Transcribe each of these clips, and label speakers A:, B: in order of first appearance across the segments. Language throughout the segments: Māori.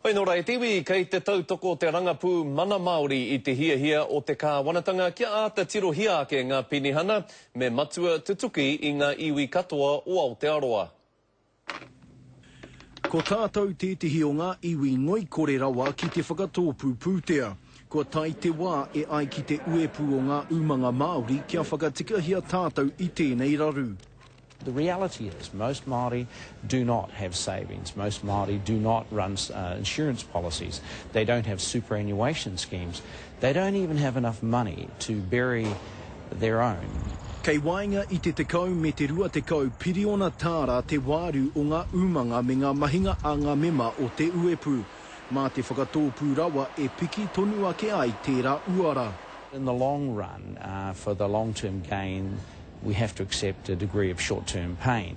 A: Hoi nō rā e te iwi, kei te tautoko te rangapū mana Māori i te hiahia o te kāwanatanga kia āta tirohia ake ngā penihana me matua tutuki i ngā iwi katoa o Aotearoa.
B: Ko tātou tētehi o ngā iwi ngoikore rawa ki te whakatōpū pūtea. Kua tae te wā e ai ki te uepū o ngā umanga Māori kia whakatikahia tātou i tēnei raru. The reality
C: is most Māori do not have savings, most Māori do not run insurance policies, they don't have superannuation schemes, they don't even have enough money to bury their own. Kei waenga
B: i te tekau me te rua tekau piriona tāra te wāru o ngā umanga me ngā mahinga a ngā mema o Te Uepū, mā te whakatōpū rawa e piki tonu ake ai tērā uara. In the long
C: run, for the long term gain, We have to accept a degree of short term pain.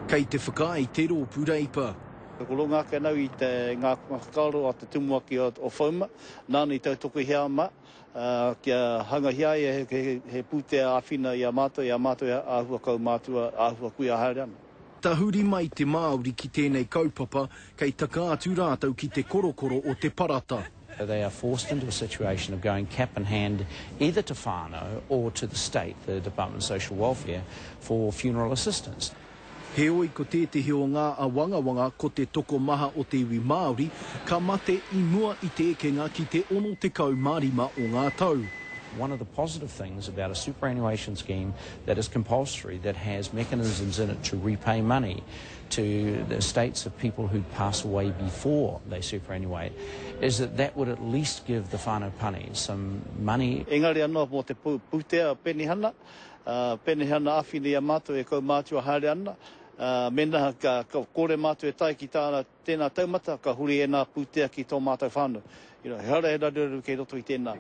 C: Kei te
B: whakaae te roopu Reipa. Ko runga ake
D: anau i te nga whakaaro a te tumuaki o Fouma, nana i tautokohia ma, kia hangahia ai he putea awhina i a matou, i a matou ahua kaumātua, ahua kuia haere ana. Tahuri mai
B: te Māori ki tēnei kaupapa, kei taka atu rātou ki te korokoro o te parata. They are forced
C: into a situation of going cap in hand either to whānau or to the state, the Department of Social Welfare, for funeral assistance. Heoi
B: ko tētehi o ngā awangawanga ko te tokomaha o te iwi Māori ka mate i mua i te ekenga ki te 65 o ngā tau. One of the positive
C: things about a superannuation scheme that is compulsory, that has mechanisms in it to repay money to the estates of people who pass away before they superannuate, is that that would at least give the whānau pani some money. Engari anō mō te
D: pūtea penihana, penihana āwhina i a mātou e kaumātua haere ana, mēnā ka kore mātou e tae ki tāna, Tēnā taumata, ka huri ēnā pūtea ki tō mātou whānau. You know, he hara, he raruraru kei roto i tēnā.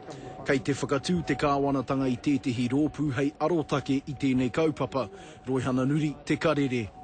D: Kei te whakatū
B: te Kāwanatanga i tētehi rōpū hei arotake i tēnei kaupapa, Roihana Nuri, Te Karere.